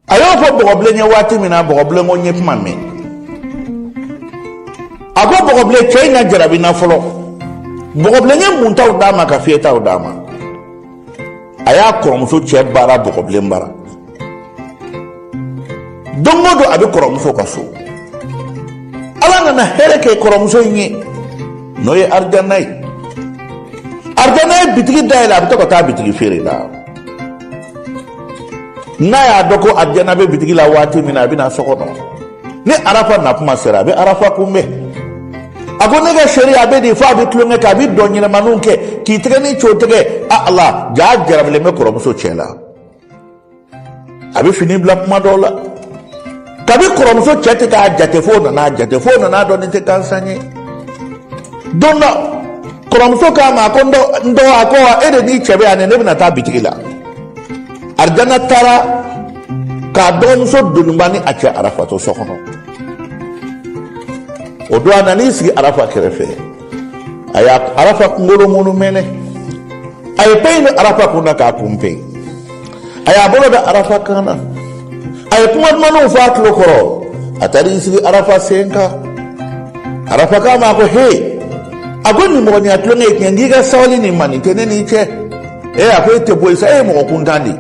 a y'o fɔ bɔgɔbilen ye waati min na bɔgɔbilen ko n ye kuma mɛn a ko bɔgɔbilen cɛ in ka jarabi n na fɔlɔ bɔgɔbilen ye muntaw d'a ma ka fiyɛtaw d'a ma a y'a kɔrɔmuso cɛ baara bɔgɔbilen bara don o don a bɛ kɔrɔmuso ka so ala nana hɛrɛ kɛ kɔrɔmuso in ye n'o ye arijana ye arijana ye bitigi dayɛlɛ a bɛ to ka taa bitigi feere la n'a y'a dɔn ko arijana bɛ bitigi la waati min na a bɛ na so kɔnɔ ni arafa nakuma sera a bɛ arafa kunbɛn a ko ne ka cheri a bɛ di fo a bɛ tulonkɛ kɛ a bɛ dɔn ɲɛnamanin kɛ k'i tɛgɛ ni co tɛgɛ a ala jaa jarabilen bɛ kɔrɔmuso cɛ la a bɛ fini bila kuma dɔw la kabi kɔrɔmuso cɛ tɛ k'a jate fo o nan'a jate fo o nan'a dɔn nin tɛ gansan ye don dɔ kɔrɔmuso k'a ma a ko n dɔgɔ a ko wa e de n'i cɛ bɛ yan ne bɛna taa bitigi la arijana taara k'a dɔgɔmuso doniba ni a cɛ arafa to so kɔnɔ o don a nan'i sigi arafa kɛrɛfɛ a ye arafa kunkolo munumɛnɛ a ye peɲi don arafa kun na k'a kun pe a y'a bolo da arafa kan na a ye kuma dumanw fɔ a tulo kɔrɔ a taara i sigi arafa sen kan arafa k'a ma ko he a ko nimɔgɔniya tulon ye tiɲɛ nk'i ka sabali nin ma nin tɛ ne n'i cɛ ee a ko e tɛ bɔ yen sa e ye mɔgɔ kuntan de ye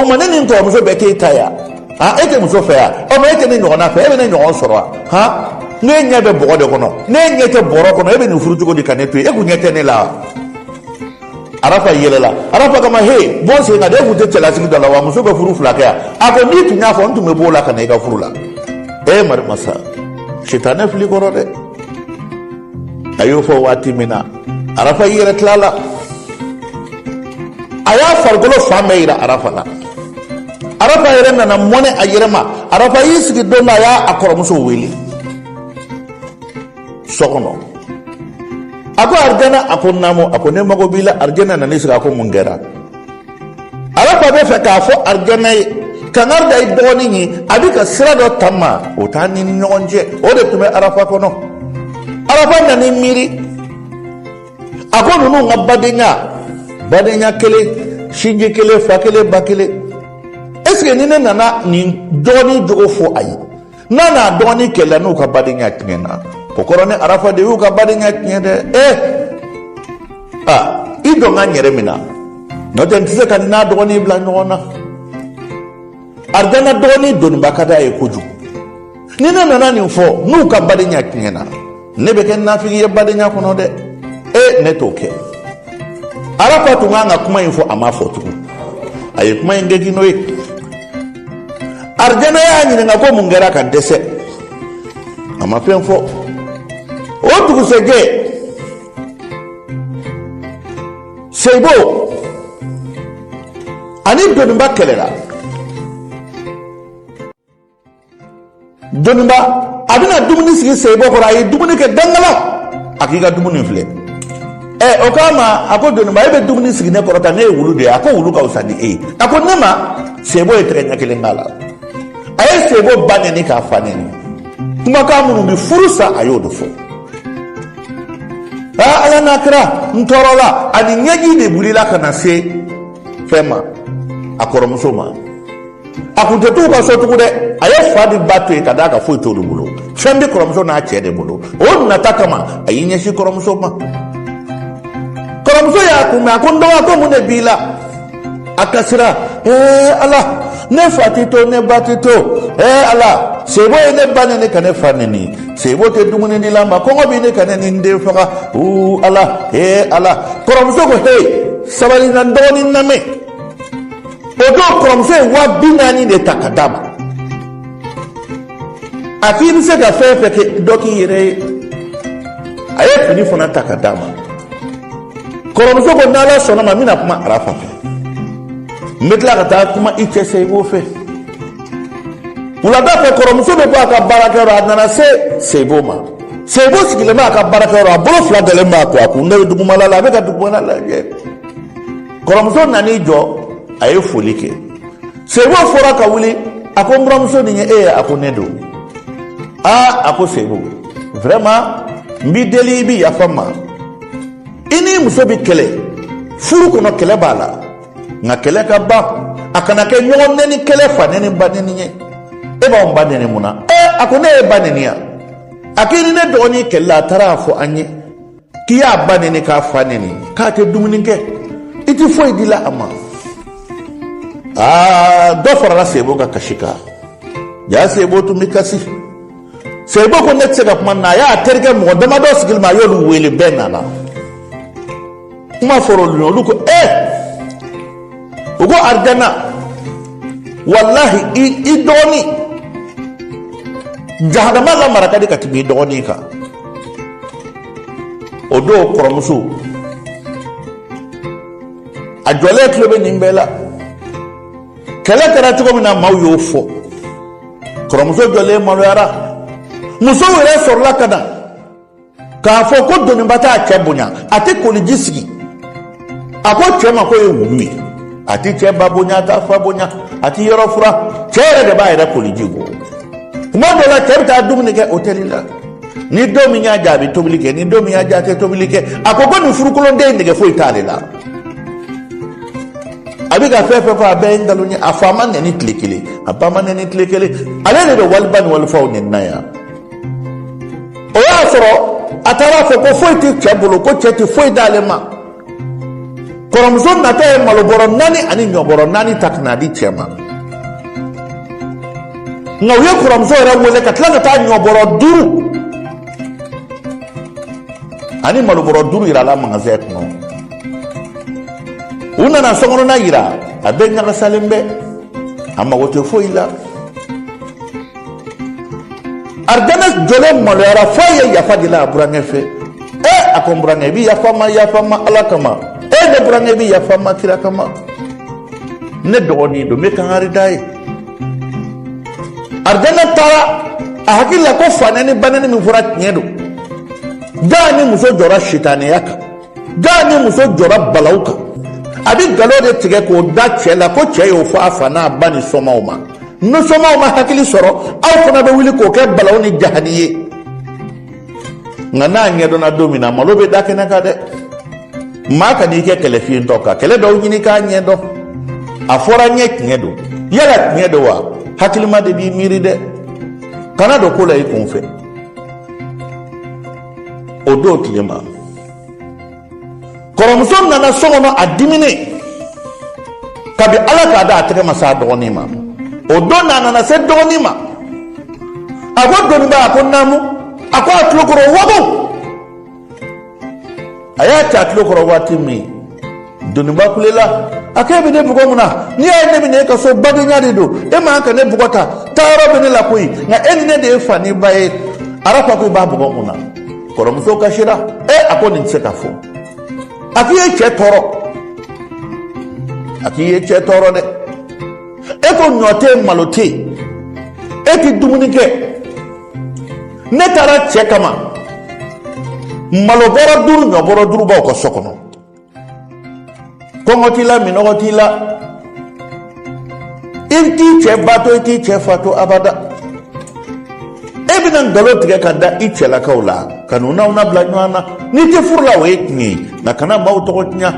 o ma ne ni n kɔrɔmuso bɛɛ t'e ta ye wa han e tɛ muso fɛ yan ɔ mɛ e tɛ ne ɲɔgɔnna fɛ e bɛ ne ɲɔgɔn sɔrɔ wa han ne ɲɛ bɛ bɔgɔ de kɔnɔ ne ɲɛ tɛ bɔrɔ kɔnɔ e bɛ nin furu cogo di ka ne to yen e kun ɲɛ tɛ ne la wa arafa yɛlɛla arafa k'a ma he bɔ n sen kan dɛ e tun tɛ cɛlasigi da la wa muso bɛ furu fila kɛ yan a ko n'i tun y'a fɔ n tun bɛ b'o la ka na i ka furu la ee marimasa sitanɛ fili kɔrɔ dɛ a y'o fɔ waati min na arafa y'i yɛrɛ tila a la a y'a farikolo fan bɛɛ yira arafa la arafa yɛrɛ nana mɔnɛ a yɛrɛ ma arafa y'i sigi don dɔ a ye a kɔrɔmuso wele so kɔnɔ a ko arijana a ko naamu a ko ne mago b'i la arijana nana i sigi a ko mun kɛra arafa b'a fɛ k'a fɔ arijana ye kankari da i dɔgɔnin ye a bɛ ka sira dɔ taama o t'an ni ɲɔgɔn cɛ o de tun bɛ arafa kɔnɔ arafa nana i miiri a ko ninnu ka badenya badenya kelen sinji kelen fa kelen ba kelen est ce que ni ne nana nin dɔgɔnin jogo fɔ a ye n'a n'a dɔgɔnin kɛlɛ n'u ka badenya tiɲɛna o kɔrɔ ne arafa de y'u ka badenya tiɲɛ dɛ e a i jɔ n ka n yɛrɛ minɛ n'o tɛ n tɛ se k'a n'a dɔgɔnin bila ɲɔgɔn na arijana dɔgɔnin doniba ka d'a ye kojugu ni ne nana nin fɔ n'u ka badenya tiɲɛna ne bɛ kɛ nafigi ye badenya kɔnɔ dɛ e ne t'o kɛ arafa tun kan ka kuma in fɔ a ma fɔ tugun a ye kuma in gɛgi n'o ye arijana y'a ɲininka ko mun kɛra ka dɛsɛ a ma fɛn fɔ o dugusɛjɛ seibo ani doniba kɛlɛla dɔnniba a bɛna dumuni sigi seyibɔ kɔrɔ a ye dumuni kɛ dangala a k'i ka dumuni filɛ ɛ o k'a ma a ko dɔnniba e bɛ dumuni sigi ne kɔrɔ tan ne ye wulu de ye a ko wulu ka fisa ni e ye a ko ne ma seyibɔ ye tɛgɛ ɲɛ kelen k'a la a ye seyibɔ ba nɛni k'a fa nɛni kumakan minnu bɛ furu sa a y'o dɔ fɔ aa ala n'a kira n tɔɔrɔla a ni ɲɛji de wulila ka na se fɛn ma a kɔrɔmuso ma a kun tɛ t'u ka so tugun dɛ a ye fa ni ba to yen ka d'a kan foyi t'olu bolo fɛn bɛ kɔrɔmuso n'a cɛ de bolo o nata kama a y'i ɲɛsin kɔrɔmuso ma kɔrɔmuso y'a kunbɛn a ko n dɔgɔ ko mun de b'i la a kasira ee ala ne fa tɛ to ne ba tɛ to ee ala sebo ye ne ba nɛni ka ne fa nɛni sebo tɛ dumuni di la n ma kɔngɔ bɛ ɲini ka ne ni n den faga uu ala ee ala kɔrɔmuso ko he sabali na n dɔgɔnin n lamɛn o don kɔrɔmuso ye waa bi naani de ta ka d'a ma a k'i bɛ se ka fɛn fɛn kɛ dɔ k'i yɛrɛ ye a ye fini fana ta ka d'a ma kɔrɔmuso ko n'ala sɔnna ma n bɛna kuma arafa fɛ n bɛ tila ka taa kuma i cɛ sebo fɛ wulada fɛ kɔrɔmuso bɛ bɔ a ka baarakɛyɔrɔ a nana se sebo ma sebo sigilen bɛ a ka baarakɛyɔrɔ a bolo fila dalen b'a kɔ a kun de bɛ dugumala la a bɛ ka dugumala lajɛ kɔrɔmuso nan'i jɔ a ye foli kɛ sebo fɔra ka wuli a ko n buramuso nin ye e ye a ko ne don aa a ko sebo vraiment n b'i deli i bɛ yafa n ma i n'i muso bɛ kɛlɛ furu kɔnɔ kɛlɛ b'a la nka kɛlɛ ka ban a kana kɛ ɲɔgɔn nɛni kɛlɛ fa nɛni ba nɛni ye e b'anw ba nɛni mun na ɛ a ko ne ye ba nɛni yan a k'i ni ne dɔgɔnin kɛlɛla a taara a fɔ an ye k'i y'a ba nɛni k'a fa nɛni k'a tɛ dumuni kɛ i tɛ foyi di la a ma aa dɔ farala sebo ka kasi kan jaa sebo tun bɛ kasi sebo ko ne tɛ se ka kuma na a y'a terikɛ mɔgɔ damadɔ sigilen bɛ a y'olu wele bɛɛ nana kuma fɔra olu ɲɛ olu ko ee eh! u ko arijana walahi i dɔgɔnin jahanama lamara ka di ka tɛmɛ i dɔgɔnin kan o don kɔrɔmuso a jɔlen tulo bɛ nin bɛɛ la kɛlɛ kɛra cogo min na maaw y'o fɔ kɔrɔmuso jɔlen maloyara musow yɛrɛ sɔrɔla ka na k'a fɔ ko doniba t'a cɛ bonya a tɛ koliji sigi a ko cɛ ma k'o ye wulu ye a ti cɛ ba bonya a t'a fa bonya a ti yɔrɔ furan cɛ yɛrɛ de b'a yɛrɛ koliji bɔ tuma dɔ la cɛ bɛ taa dumuni kɛ hotɛli la ni don min y'a ja a bɛ tobili kɛ ni don min y'a ja a tɛ tobili kɛ a ko ko nin furukolonden nɛgɛ foyi t'ale la a bɛ ka fɛn fɛn fɔ a bɛɛ ye nkalon ye a fa ma nɛni tile kelen a ba ma nɛni tile kelen ale de bɛ waliba ni walifaw nɛni na yan o y'a sɔrɔ a taara a fɔ ko foyi tɛ cɛ bolo ko cɛ tɛ foyi d'ale ma kɔrɔmuso natɔ ye malobɔrɔ naani ani ɲɔbɔrɔ naani ta ka n'a di cɛ ma nka u ye kɔrɔmuso yɛrɛ wele ka tila ka taa ɲɔbɔrɔ duuru ani malobɔrɔ duuru yir'a la magasɛn kɔnɔ u nana sokɔnɔna yira a bɛɛ ɲagasalen bɛ a mago tɛ foyi la aridana jɔlen maloyara f'a ye yafa deli a burankɛ fɛ ɛ a ko n burankɛ i bɛ yafa n ma yafa n ma ala kama e ne burankɛ i bɛ yafa n ma kira kama ne dɔgɔnin don n bɛ kangari d'a ye aridana taara a hakili la ko fanɛni banɛni min fɔra tiɲɛ don jaa ni muso jɔra sitaniya kan jaa ni muso jɔra balawu kan a bɛ galo de tigɛ k'o da cɛ la ko cɛ y'o fɔ a fa n'a ba ni somaaw ma ni somaaw ma hakili sɔrɔ aw fana bɛ wuli k'o kɛ balawu ni jahani ye nka n'a ɲɛdɔnna don min na malo bɛ da kɛnɛ kan dɛ maa kan'i kɛ kɛlɛ fiyentɔ ka kɛlɛ dɔw ɲini k'a ɲɛdɔn a fɔra n ye tiɲɛ don yala tiɲɛ don wa hakilima de b'i miiri dɛ kana don ko la i kun fɛ o don tile ma kɔrɔmuso nana so kɔnɔ a diminen kabi ala k'a da a tɛgɛ ma s'a dɔgɔnin ma o don na a nana se dɔgɔnin ma a ko doniba a ko naamu a ko a tulokɔrɔ wago a y'a ta a tulo kɔrɔ waati min doniba kulela a k'e bɛ ne bugɔ mun na n'i y'a ye ne bɛ na e ka so badenya de don e man ka ne bugɔ ta taayɔrɔ bɛ ne la koyi nka e ni ne de ye fa ni ba ye arafa ko i b'a bugɔ mun na kɔrɔmuso kasira e a ko nin tɛ se ka fɔ a k'i ye cɛ tɔɔrɔ a k'i ye cɛ tɔɔrɔ dɛ e ko ɲɔ tɛ yen malo tɛ yen e tɛ dumuni kɛ ne taara cɛ kama malobɔrɔ duuru ɲɔbɔrɔ duuru b'aw ka so kɔnɔ kɔngɔ t'i la minɔgɔ t'i la i t'i cɛ ba to i t'i cɛ fa to abada e bɛna nkalon tigɛ ka da i cɛlakaw la ka n'u n'aw na bila ɲɔgɔn na n'i tɛ furu la o ye tiɲɛ ye nka kana maaw tɔgɔ tiɲɛ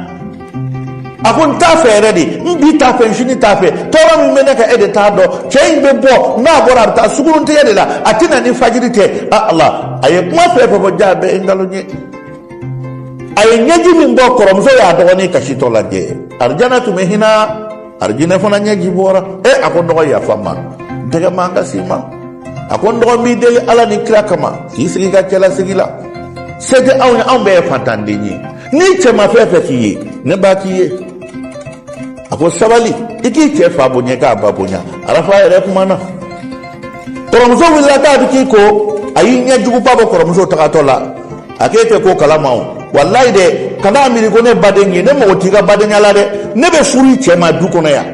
a ko n t'a fɛ yɛrɛ dɛ n bi t'a fɛ n sini t'a fɛ tɔɔrɔ min bɛ ne kan e de t'a dɔn cɛ in bɛ bɔ n'a bɔra a bɛ taa sunguruntigɛ de la a tɛ na ni fajiri tɛ a ala a ye kuma fɛn fɛn fɔ jaa bɛɛ ye nkalon ye a ye ɲɛji min bɔ kɔrɔmuso y'a dɔgɔnin kasitɔ lajɛ arijana tun bɛ hinɛ arijinɛ fana ɲɛji bɔra e a ko n dɔgɔ yafa n ma dɛgɛ man kan si ma a ko n dɔgɔ n b'i deli ala ni kira kama k'i sigi i ka cɛlasigi la se tɛ anw ye anw bɛɛ ye fantanden ye n'i cɛ ma fɛn fɛn k'i ye ne b'a k'i ye a ko sabali i k'i cɛ fa bonya k'a ba bonya arafa yɛrɛ kumana kɔrɔmuso wulila k'a bɛ k'i ko a y'i ɲɛjuguba bɔ kɔrɔmuso tagatɔ la a k'e tɛ ko kalama o walayi dɛ kan'a miiri ko ne baden ye ne mago t'i ka badenya la dɛ ne bɛ furu i cɛ ma du kɔnɔ yan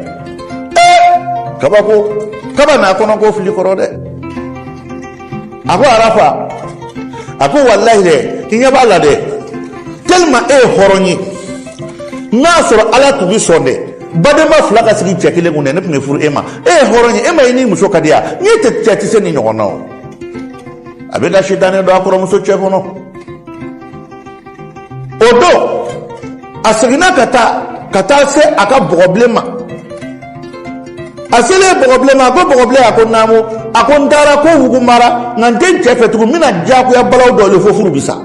ee kabako kaba n'a kɔnɔ ko fili kɔrɔ dɛ a ko arafa a ko walayi dɛ i ɲɛ b'a la dɛ tellement e ye hɔrɔn ye n'a sɔrɔ ala tun bɛ sɔn dɛ badenma fila ka sigi cɛ kelen kun dɛ ne tun bɛ furu e ma e ye hɔrɔn ye e ma i n'i muso ka di yan n'i tɛ cɛ tɛ se nin ɲɔgɔn na o a bɛ ka sitanɛ don a kɔrɔmuso cɛ kɔnɔ o don a seginna ka taa ka taa se a ka bɔgɔbilen ma a selen bɔgɔbilen ma a ko bɔgɔbilen a ko naamu a ko n taara ko wugu mara nka n tɛ n cɛ fɛ tugun n bɛna diyagoya balaw dɔ le fo furu bi sa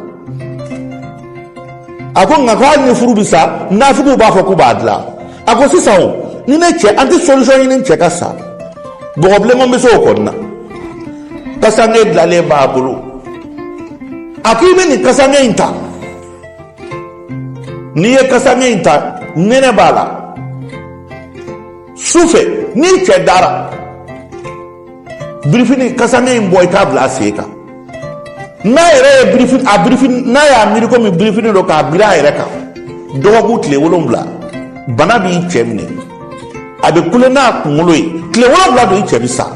a ko nka ko hali ni furu bi sa nafigiw b'a fɔ k'u b'a dilan a ko sisan o ni ne cɛ an tɛ solution ɲini cɛ ka sa bɔgɔbilen ma bɛ se o kɔni na kasange dilanlen b'a bolo a ko i bɛ nin kasange in ta n'i ye kasange in ta nɛnɛ b'a la su fɛ n'i cɛ dara birifini kasange in bɔ i k'a bila a sen kan n'a yɛrɛ ye birifini a birifini n'a y'a miiri komi birifini don k'a biri a yɛrɛ kan dɔgɔkun tile wolonwula bana b'i cɛ minɛ a bɛ kule n'a kunkolo ye tile wolonwula don i cɛ bɛ sa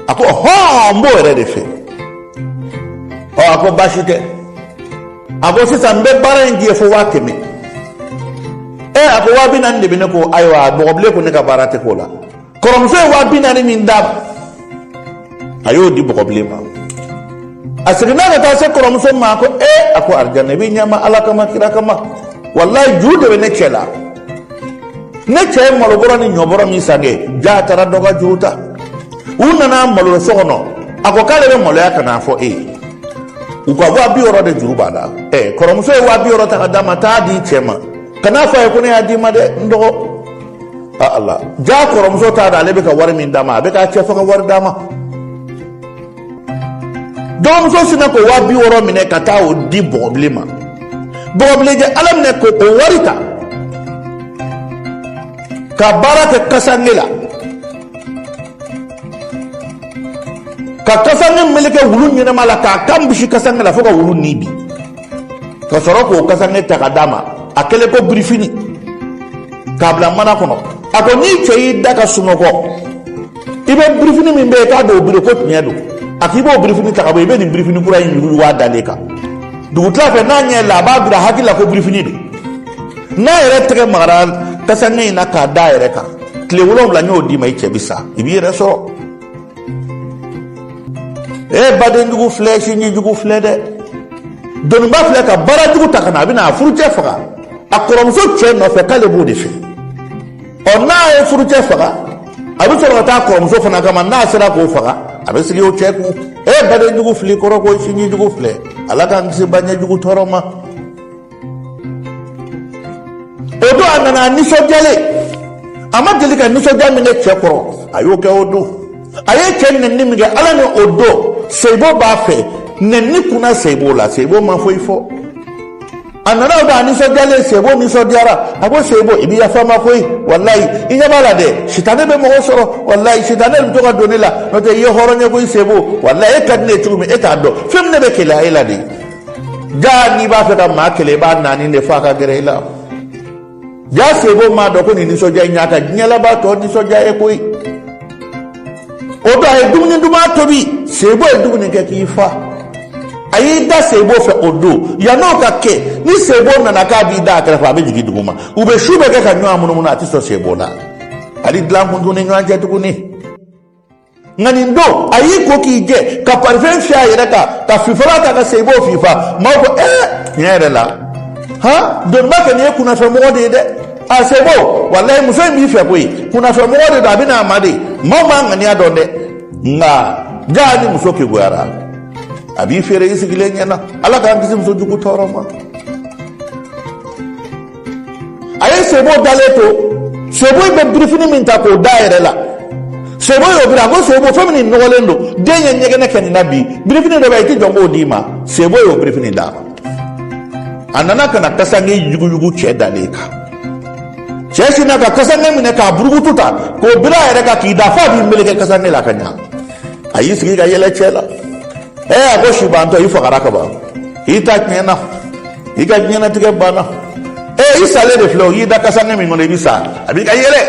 a ko hɔn n b'o yɛrɛ de fɛ ɔ a ko baasi tɛ a ko sisan n bɛ baara in k'i ye fo waa kɛmɛ ɛ a ko waa binaani de bɛ ne kun ayiwa bɔgɔbilen ko ne ka baara tɛ k'o la kɔrɔmuso ye waa bi naani min d'a ma a y'o di bɔgɔbilen ma a seginna ka taa se kɔrɔmuso ma ko ee a ko arijana i bɛ ɲɛ n ma ala kama kira kama walayi juru de bɛ ne cɛ la ne cɛ ye malobɔrɔ ni ɲɔbɔrɔ min san kɛ jaa a taara dɔ ka juru ta u nana malo so kɔnɔ a ko k'ale bɛ maloya ka n'a fɔ e ye u ka waa bi wɔɔrɔ de juru b'a la ɛ kɔrɔmuso ye waa bi wɔɔrɔ ta ka d'a ma taa d'i cɛ ma kan'a fɔ a ye ko ne y'a d'i ma dɛ n dɔgɔ ala jaa kɔrɔmuso t'a dɔn ale bɛ ka wari min d'a ma a bɛ k'a cɛ faga wari d'a ma dɔgɔmuso sinna k'o waa bi wɔɔrɔ minɛ ka taa o di bɔgɔbilen ma bɔgɔbilen jɛ ala minɛ k'o wari ta ka baara kɛ kasange la ka kasange meleke wulu ɲɛnama la k'a kan bisi kasange la fo ka wulu ni bi ka sɔrɔ k'o kasange ta ka d'a ma a kɛlen ko birifini k'a bila mana kɔnɔ a ko n'i cɛ y'i da ka sunɔgɔ i bɛ birifini min bɛ yen k'a don o biri ko tiɲɛ don a k'i b'o birifini ta ka bɔ i bɛ nin birifini kura in yugu yugu a dalen kan dugutila fɛ n'a ɲɛ la a b'a bila a hakili la ko birifini don n'a yɛrɛ tɛgɛ magara kasange in na k'a da a yɛrɛ kan tile wolonwula n y'o d'i ma i cɛ bɛ sa i b'i yɛrɛ sɔrɔ e badenjugu filɛ sinjijugu filɛ dɛ dɔnniba filɛ ka baarajugu ta ka na a bɛna a furucɛ faga a kɔrɔmuso cɛ nɔfɛ k'ale b'o de fɛ ɔ n'a ye furucɛ faga a bɛ sɔrɔ ka taa kɔrɔmuso fana kama n'a sera k'o faga a bɛ sigi o cɛ kun e badenjugu filɛ kɔrɔ koyi sinjijugu filɛ ala k'an kisi badenyajugu tɔɔrɔ ma o don a nana a nisɔndiyalen a ma deli ka nisɔndiya min kɛ cɛ kɔrɔ a y'o kɛ o don a ye cɛ nɛni min kɛ ala ni o don seyibo b'a fɛ nɛni kunna seyibo la seyibo ma foyi fɔ a nana o don a nisɔndiyalen seyibo nisɔndiyara a ko seyibo i bɛ yafa n ma koyi walayi i ɲɛ b'a la dɛ sitane bɛ mɔgɔ sɔrɔ walayi sitane bɛ to ka don ne la n'o tɛ i ye hɔrɔn ye koyi seyibo walayi e ka di ne ye cogo min e t'a dɔn fɛn min ne bɛ keleya e la de jaa n'i b'a fɛ ka maa kɛlɛ i b'a naani de fo a ka gɛrɛ i la jaa sebo m'a dɔn ko nin nisɔndiya in y'a ka diɲɛ labantɔ nisɔndiya ye koyi o don a ye dumuni duman tobi sebo ye dumuni kɛ k'i fa a y'i da sebo fɛ o don yann'o ka kɛ ni sebo nana k'a b'i da a kɛrɛfɛ a bɛ jigin duguma u bɛ su bɛɛ kɛ ka ɲɔgɔn munumunu a tɛ sɔn sebo la hali dilan kun t'u ni ɲɔgɔn cɛ tuguni nka nin don a y'i ko k'i jɛ ka parifɛn fiyɛ a yɛrɛ kan ka fifala ta ka seyibo fifa maaw ko ɛɛ tiɲɛ yɛrɛ la han dɔnniba kɛ nin ye kunnafɛnmɔgɔ de ye dɛ a sebo walayi muso in b'i fɛ koyi kunnafɛnmɔgɔ de don a bɛn'a mada maaw m'a ŋaniya dɔn dɛ nka jaa ni muso kegunyara a b'i feere i sigilen ɲɛ na ala k'an kisi muso jugu tɔɔrɔ ma a ye sebo dalen to sebo in bɛ birifini min ta k'o da a yɛrɛ la sebo y'o biri a ko sebo fɛn min nɔgɔlen don den ye ɲɛgɛnɛ kɛ nin na bi birifini dɔ bɛ yen i tɛ jɔ n k'o d'i ma sebo y'o birifini d'a ma a nana ka na kasange yuguyugu cɛ dalen kan cɛ sinna ka kasange minɛ k'a burukutu ta k'o biri a yɛrɛ kan k'i da f'a b'i meleke kasange la ka ɲa a y'i sigi ka yɛlɛ cɛ la ee a ko sibantɔ i fagara ka ban i ta tiɲɛna i ka diɲɛnatigɛ banna ee i salen de filɛ o y'i da kasange min kɔnɔ i bɛ sa a bɛ ka yɛlɛ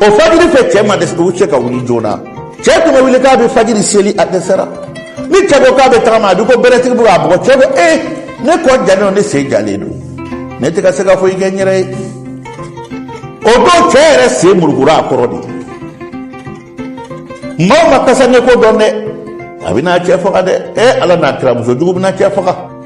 o fajiri fɛ cɛ ma dɛsɛ u cɛ ka wuli joona cɛ tun bɛ wuli k'a bɛ fajiri seli a dɛsɛra ni cɛ ko k'a bɛ taama a b'i ko beretigi bɛ k'a bugɔ cɛ ko ee ne kɔ jalen don ne sen jalen don ne tɛ ka se ka foyi kɛ n yɛrɛ ye o don cɛ yɛrɛ sen murukura a kɔrɔ dɛ maaw ma kasange ko dɔn dɛ a bɛna cɛ faga dɛ e ala n'a kira muso jugu bɛna cɛ faga